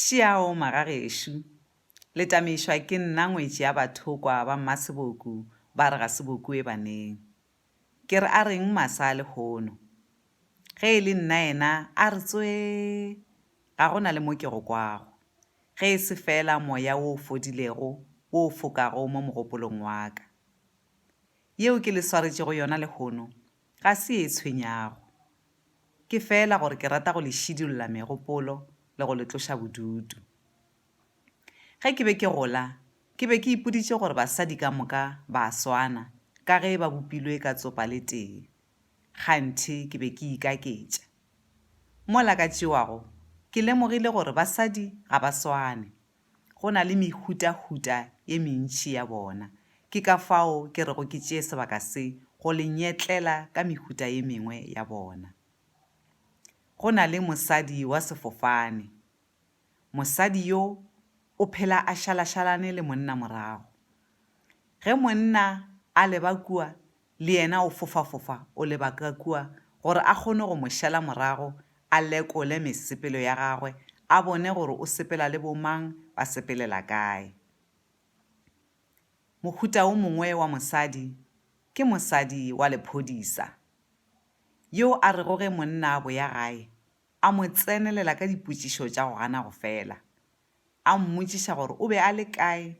Šiao ma ga gešo. Le tameišwa ke nna ngwetši ya bathokwa ba mmaseboku ba re ga se bokoe baneng. Ke re a reng masa a lehono. Ge e le nna yena a re tswee ga go na le mo ke go kwago, ge e se feela moya wo o fodilego wo o fokago mo mogopolong wa ka. Yeo ke le swaretšego yona lehono ga se ye e tshwenyago. Ke feela gore ke rata go le šidulla megopolo le go le tloša bodutu. Ge ke be ke gola, ke be ke ipoditše gore basadi ka moka ba a swana ka ge ba bopilwe ka tsopa le tee. Kganthe ke be ke ikaketša. Mola ka tšewago, ke lemogile gore basadi ga ba swane. Go na le mehutahuta ye mentši ya bona. Ke ka fao ke rego ke tšee sebaka se go le nyetlela ka mehuta ye mengwe ya bona. Go na le mosadi wa sefofane. Mosadi yo o phela a šalašalane le monna morago. Ge monna a leba kua, le yena o fofafofa o leba ka kua gore a kgone go mo šala morago, a lekole mesepelo ya gagwe, a bone gore o sepela le bomang, ba sepelela kae. Mohuta wo mongwe wa mosadi ke mosadi wa lephodisa, yo a rego ge monna a boya gae, a mo tsenelela ka dipotšišo tša go gana go fela, a mmotšiša gore o be a le kae,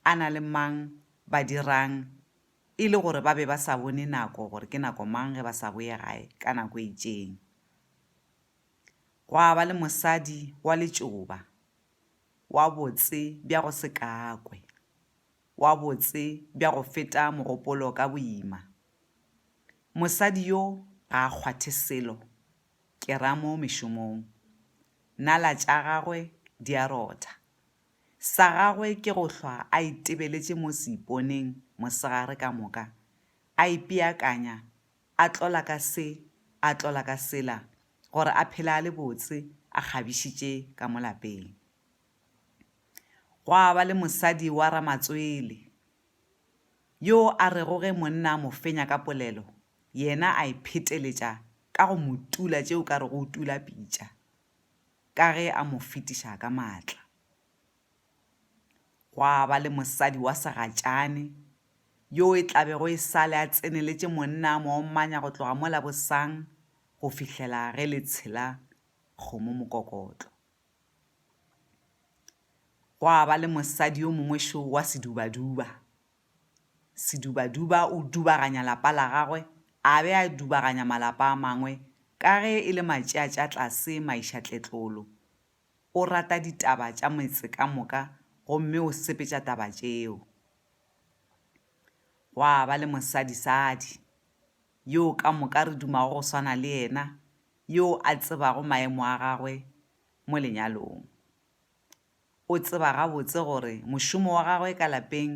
a na le mang, ba dirang, E le gore ba be ba sa bone nako gore ke nako mang ge ba sa boye gae ka nako e itšeng. Gwa ba le mosadi wa letšoba, wa botse bja go se kakwe, wa botse bja go feta mogopolo ka boima. Mosadi yo ga a kgwathe selo, ke ra mo mešomong. Nala tša gagwe di a rotha. Sa gagwe ke go hlwa a itebeletše mo seiponeng mosegare ka moka, a ipeakanya, a tlola ka se, a tlola ka sela, gore a phele a le botse, a kgabišitše ka mo lapeng. Gwa ba le mosadi wa Ramatswele, yo a rego ge monna a mo fenya ka polelo, yena a e pheteletša ka go mo tula tše o ka rego o tula pitša. ka ge a mo fetiša ka maatla. Gwa ba le mosadi wa segatšane yo e tla bego e sa le a tseneletše monna a mo omanya go tloga mo Labosang go fihlela ge le tshela kgomo mokokotlo. Gwa ba le mosadi yo mongwe šo wa sedubaduba. Sedubaduba o dubaganya lapa la gagwe a be a dubaganya malapa a mangwe ka ge e le matšeatšatlase maišatletlolo. O rata ditaba tša metse ka moka gomme o sepetša taba tšeo. Gwa ba le mosadisadi, yo ka moka re dumago go swana le yena, yo a tsebago maemo a gagwe mo lenyalong. O tseba gabotse gore mošomo wa gagwe ka lapeng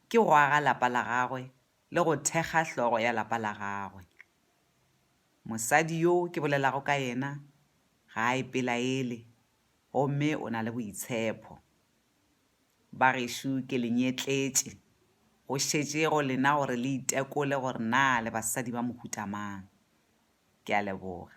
ke go aga lapa la gagwe le go thekga hlogo ya lapa la gagwe. Mosadi yo ke bolelago ka yena ga a ipelaele gomme o na le boitshepho. Ba gešo ke le nyetletše, go šetše go lena gore le itekole gore na le basadi ba mohuta mang. Ke a leboga.